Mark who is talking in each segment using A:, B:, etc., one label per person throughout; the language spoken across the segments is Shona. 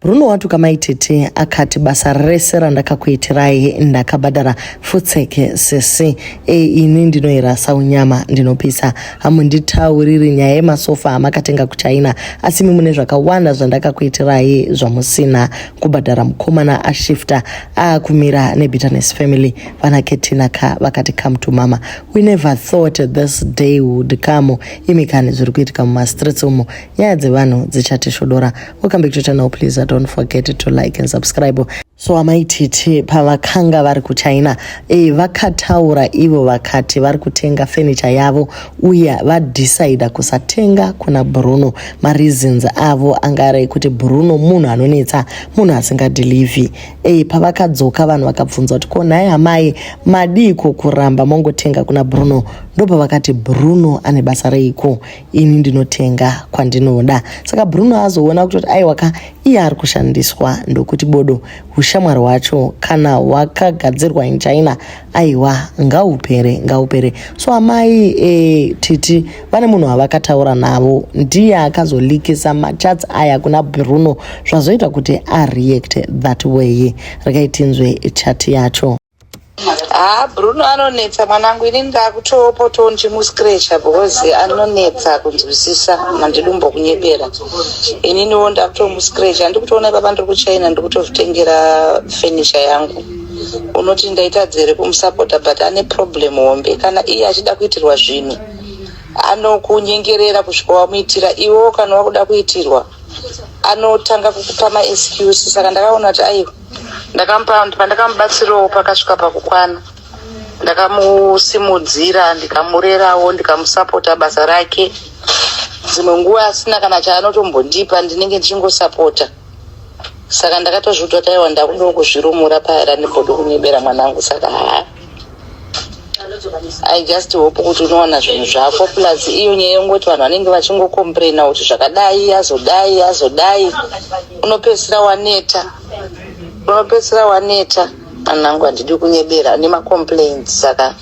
A: Bruno watuka mai tete akati basa rese randakakuitirai ndakabhadhara futseke sisi e ini ndinoirasa unyama ndinopisa hamunditauriri nyaya yemasofa amakatenga kuchina asi imi mune zvakawanda zvandakakuitirai zvamusina kubhadhara mukomana ashifta aakumira nebitterness family vana ketina ka vakati come to mama we never thought this day would come imi kani zviri kuitika mumastreets umo nyaya dzevanhu dzichatishodora Welcome back to channel please I don't forget to like and subscribe so amai titi pavakanga vari kuchina e, vakataura ivo vakati vari kutenga fenicha yavo uye vadhisaida kusatenga kuna bruno mareasons avo anga ari ekuti bruno munhu anonetsa munhu asingadhilivhi e, pavakadzoka vanhu vakabvunza kuti ko nhai amai madiiko kuramba mongotenga kuna bruno ndopavakati bruno ane basa reiko ini ndinotenga kwandinoda saka bruno azoona kutoti aiwa ka iye ari kushandiswa ndokuti bodo ushamwari hwacho kana hwakagadzirwa in china aiwa ngaupere ngaupere so amai e, titi vane munhu wavakataura navo ndiye akazolikisa machats aya kuna bruno zvazoita kuti areact that way rekaitinzwe chati yacho Haa
B: Bruno anonetsa mwanangu ini ndakutopotowo ndichimuscratcha because anonetsa kunzwisisa mandidumbo kunyebera ininiwo ndakutomuscratcha ndikutoona ipapa ndiri kuchina ndikutozvitengera fenisha yangu unoti ndaitadzere kumusapota but ane problem hombe kana iye achida kuitirwa zvinhu anokunyengerera kusvika wamuitira iwewo kana wakuda kuitirwa anotanga kukupa maexcuse saka ndakaona kuti aiwa ndakamupa pandakamubatsirawo pakasvika pakukwana ndakamusimudzira ndikamurerawo ndikamusapota basa rake dzimwe nguva asina kana chaanotombondipa ndinenge ndichingosapota saka ndakatozviudzwa taiwa ndakudawo kuzvirumura paera nebodo kunyebera mwanangu saka haa i just hope kuti unowana zvinhu zvako plus iyo nyaya yongoti vanhu vanenge vachingokomplaina kuti zvakadai yazodai yazodai unopedzisira waneta unopedzisira waneta anangu handidi kunyebera nemacomplains saka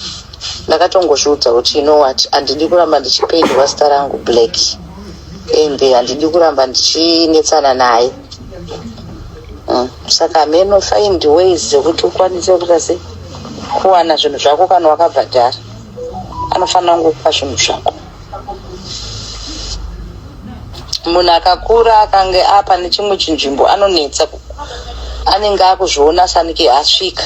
B: ndakatongozviudza kuti you know what handidi kuramba ndichipendwa zita rangu black and handidi kuramba ndichinetsana naye Mm. saka hameno find ways dzekuti ukwanise kuita sei kuwana zvinhu zvako kana wakabhadhara anofanira kungokupa zvinhu zvako munhu akakura akange apa nechimwe chinzvimbo anonetsa ku- anenge akuzviona sanike asvika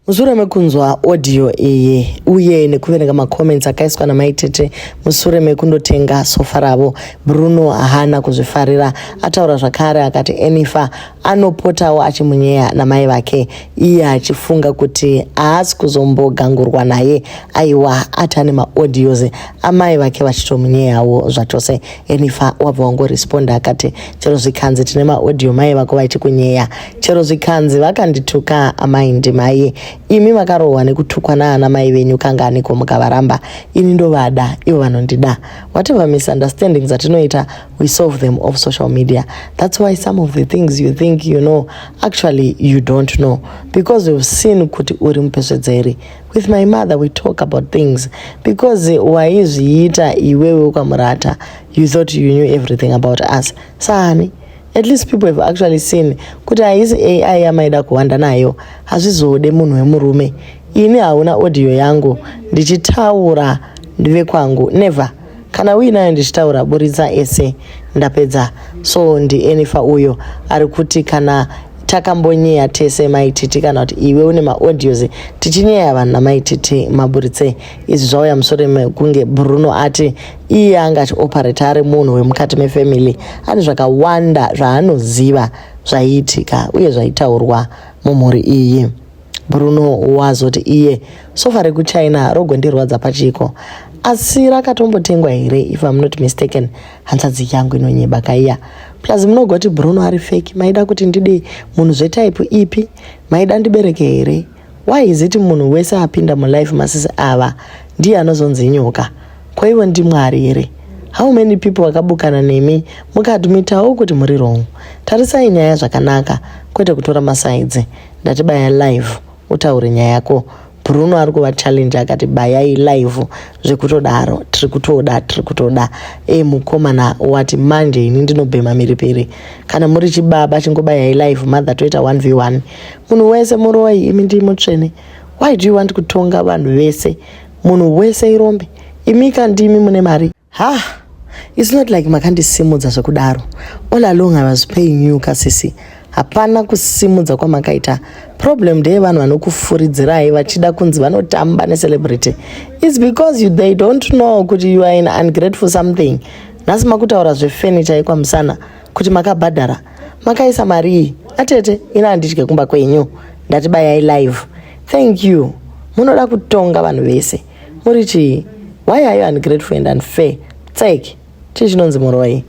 B: mushure mekunzwa
A: audio iyi uye nekuverenga macomments akaiswa namai tete mushure mekundotenga sofa ravo bruno haana kuzvifarira ataura zvakare akati enifa anopotawo achimunyeya namai vake iye achifunga kuti haasi kuzombogangurwa naye aiwa ati ane maaudios amai vake vachitomunyeyawo zvachose enifa wabva wangoresponda akati chero zvikanzi tine maaudio mai vako vachikunyeya chero zvikanzi vakandituka amai ndimai imi vakarohwa nekutukwa naana mai venyu kanganiko mukavaramba ini ndovada ivo vanondida whatever misunderstandings atinoita we solve them off social media that's why some of the things you think you know actually you don't know because you've seen kuti uri mupesvedzeri with my mother we talk about things because waizviita iwewe ukamurata you thought you knew everything about us sani at least people have actually seen kuti haisi ai yamaida kuhwanda nayo hazvizode munhu wemurume ini hauna audio yangu ndichitaura ndive kwangu never kana uinayo ndichitaura buritsa ese ndapedza so ndienifa uyo ari kuti kana takambonyeya tese maititi kana kuti iwe une maaudios tichinyeya vanhu namaititi maburitse izvi zvauya mushure mekunge bruno ati iye anga achioperata ari munhu wemukati mefamily ane zvakawanda zvaanoziva zvaiitika uye zvaitaurwa mumhuri iyi bruno wazoti iye sofa rekuchina rogondirwadza pachiko asi rakatombotengwa here if am not mistaken hanzvadzi yangu inonyeba kaiya plus munogoti bruno ari feki maida kuti ndidei munhu zvetaipi ipi maida ndibereke here Why is it munhu wese apinda mulife masisi ava ndiye anozonzi inyoka? Ko ivo ndiMwari here? How many people vakabukana nemi mukadmitawo kuti muri wrong? Tarisai nyaya zvakanaka kwete kutora masaidzi. Ndatibaya live utaure nyaya yako. Bruno ari kuva challenge akati bayai live zvekutodaro tiri kutoda tiri kutoda e mukomana wati manje ini ndinobhema miripiri kana muri chibaba chingobayai live mother toita 1v1 munhu wese muroyi imi ndii mutsvene why do you want kutonga vanhu vese munhu wese irombe imi kandimi mune mari ha its not like makandisimudza zvekudaro all along i was paying you kasisi hapana kusimudza kwamakaita problem ndeye vanhu vanokufuridzirai vachida kunzi vanotamba necelebrity its because you, they don't know kuti you are in ungrateful something nhasi makutaura zvefurniture yekwamusana kuti makabhadhara makaisa marii atete ina handidye kumba kwenyu ndati bayai live thank you munoda kutonga vanhu vese muri chii why are you ungrateful and unfair tsek chii chinonzi muroi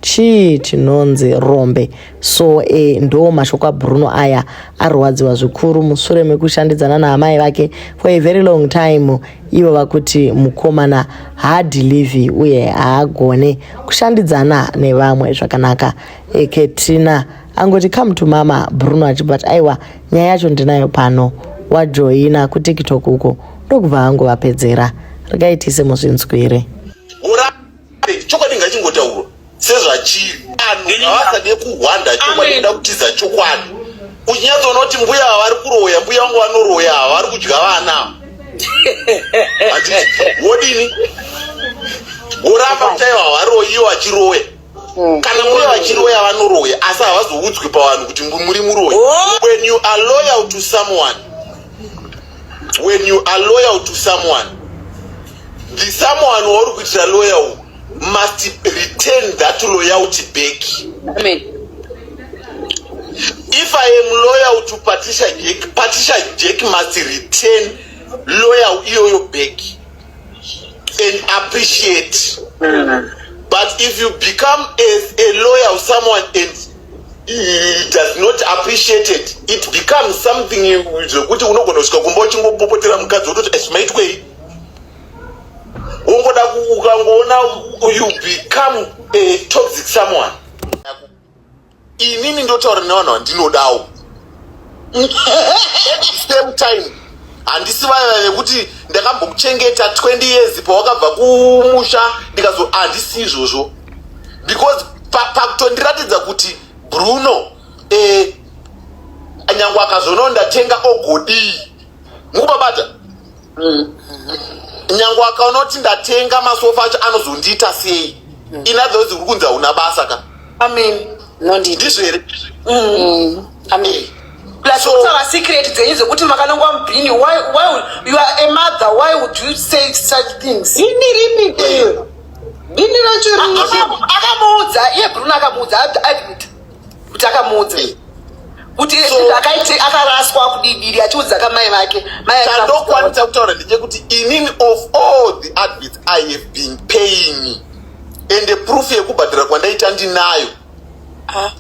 A: chii chinonzi rombe so e, ndo mashoko abruno aya arwadziwa zvikuru mushure mekushandidzana naamai vake for a very long time ivo vakuti mukomana haadhilivhi uye haagone kushandidzana nevamwe zvakanaka eketrina angoti come to mama bruno achibva ati aiwa nyaya yacho ndinayo pano wajoina kutiktok uko ndokubva hangu vapedzera rikaitise muzvinzwire
C: sezvachiri vanhu havasade kuhwanda chokwadi kuda kutiza chokwadi uchinyatsoona kuti mbuya havari kuroya mbuya vangu vanoroya havari kudya vana wodini woramba kutaiwa havaroyi iwo achiroya Mm. kana muri vachiroya vanoroya asi havazoudzwi pavanhu kuti muri muroyi oh. when you are loyal to someone when you are loyal to someone the someone wauri kuitira loyal must return that loyalty back Amen. if i am loyal to patricia jack patricia jack must return loyal iyoyo back and appreciate mm. but if you become a, a loyal someone and it does not appreciate it it becomes something zvekuti unogona kusvika kumba uchingopopotera mukadzi wototi asmaitwei ungoda ukangoona you become a toxic someone inini ndotaura nevanhu vandinodawo same time handisi vaya vaya vekuti ndakambokuchengeta 20 years pawakabva kumusha ndikazo handisi izvozvo because pakutondiratidza pa kuti bruno eh, nyange akazono ndatenga ogodii mukubabata mm. nyange wakaona kuti ndatenga masofa acho anozondiita sei mm. ina those uri kunzi hauna basa ka amen ndizvo here mm. amen
D: plasutaura secret dzenyu dzekuti makanongwa mubhini why why you are a mother why would you say such things ini ripi bhini racho akamuudza iye bruna akamuudza admit kuti akamuudza kuti akaiti akaraswa kudidiri achiudza kamai vake chandokwanisa
C: kutaura ndechekuti inini of all the advits i have been paying ende proof yekubhadhara kwandaita ndinayo ah.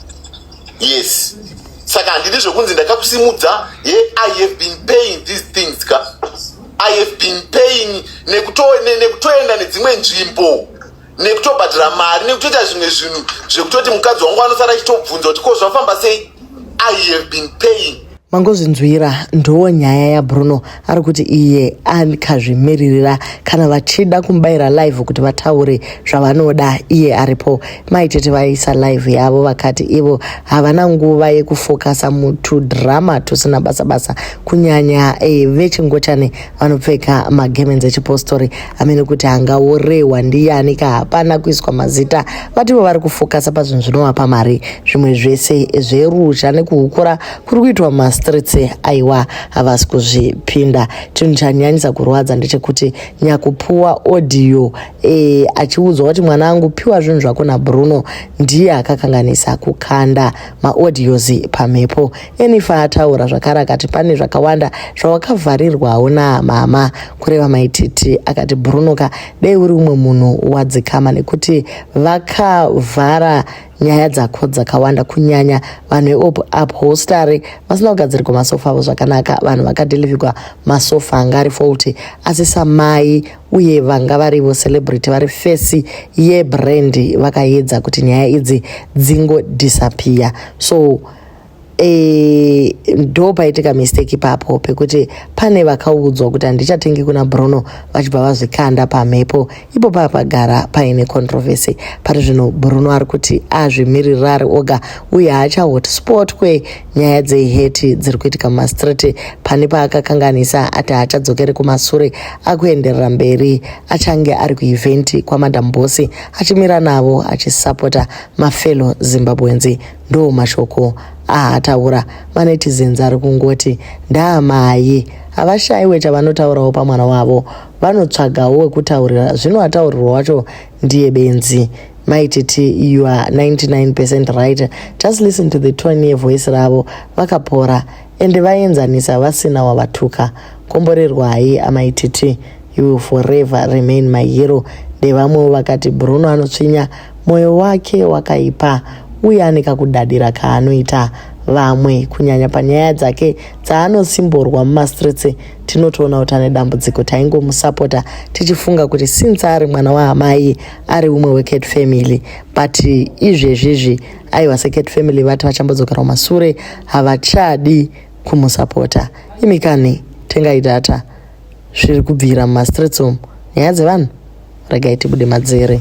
C: yes saka handidi zvekunzi ndakakusimudza he i have been paying these things ka i have been paying nekutoenda nedzimwe nzvimbo nekutobhadhara mari nekutoita zvimwe zvinhu zvekutoti mukadzi wangu anosara achitobvunza kuti ko zvafamba sei i have been paying mangozvinzwira
A: ndoo nyaya yabruno ari kuti iye akazvimiririra kana vachida kumubayira live kuti vataure zvavanoda iye aripo maitete vaisa live yavo vakati ivo havana nguva yekufokasa mutudhirama tusina basa basa kunyanya e, vechingochani vanopfeka magemenzi echipostori amene kuti angaorehwa ndiyani ka hapana kuiswa mazita vativo vari kufokasa pazvinhu zvinovapa mari zvimwe zvese zveruzha nekuhukura kuri kuitwa mumastreets aiwa havasi kuzvipinda chinhu chanyanyisa kurwadza ndechekuti nyakupuwa audio e, achiudzwa kuti mwana angu piwa zvinhu zvako nabruno ndiye akakanganisa kukanda maaudios pamhepo Enifa ataura zvakare akati pane zvakawanda zvawakavharirwawo naamama kureva maititi akati Brunoka dei uri umwe munhu wadzikama nekuti vakavhara nyaya dzako dzakawanda kunyanya vanhu veupholstery vasina kugadzirigwa masofa avo zvakanaka vanhu vakadelivigwa masofa anga ari faulty asi samai uye vanga varivo celebrity vari fesi yebrand vakaedza kuti nyaya idzi dzingodisappear so e, ndo paitika mistake ipapo pekuti pane vakaudzwa kuti handichatengi kuna bruno vachibva vazvikanda pamhepo ipo pava pagara paine controversy pari zvino bruno ari kuti azvimiririra ari oga uye haachahotspot kwenyaya dzeheti dziri kuitika mumastreet pane paakakanganisa ati haachadzokeri kumasure akuenderera mberi achange ari kueventi kwamadam bosi achimira navo achisapota mafelo zimbabwenzi Ndoo mashoko aataura manetizens ari kungoti ndaamai havashaiwe chavanotaurawo pamwana wavo vanotsvagawo wekutaurira zvino ataurirwa wacho ndiye benzi maititi you are 99 percent right just listen to the tone yevoice ravo vakapora ende vaenzanisa vasina wavatuka komborerwai amai titi you will forever remain my hero ndevamwewo vakati bruno anotsvinya mwoyo wake wakaipa uye ane kakudadira kaanoita vamwe kunyanya panyaya dzake dzaanosimborwa mumastreets tinotoona kuti ane dambudziko taingomusapota tichifunga kuti since ari mwana waamai ari umwe wecat family but izvezvizvi aiwa secret family vati vachambodzokera kumasure havachadi kumusapota imi kani tengai data zviri kubvira mumastreets umu nyaya dzevanhu regai tibude madzere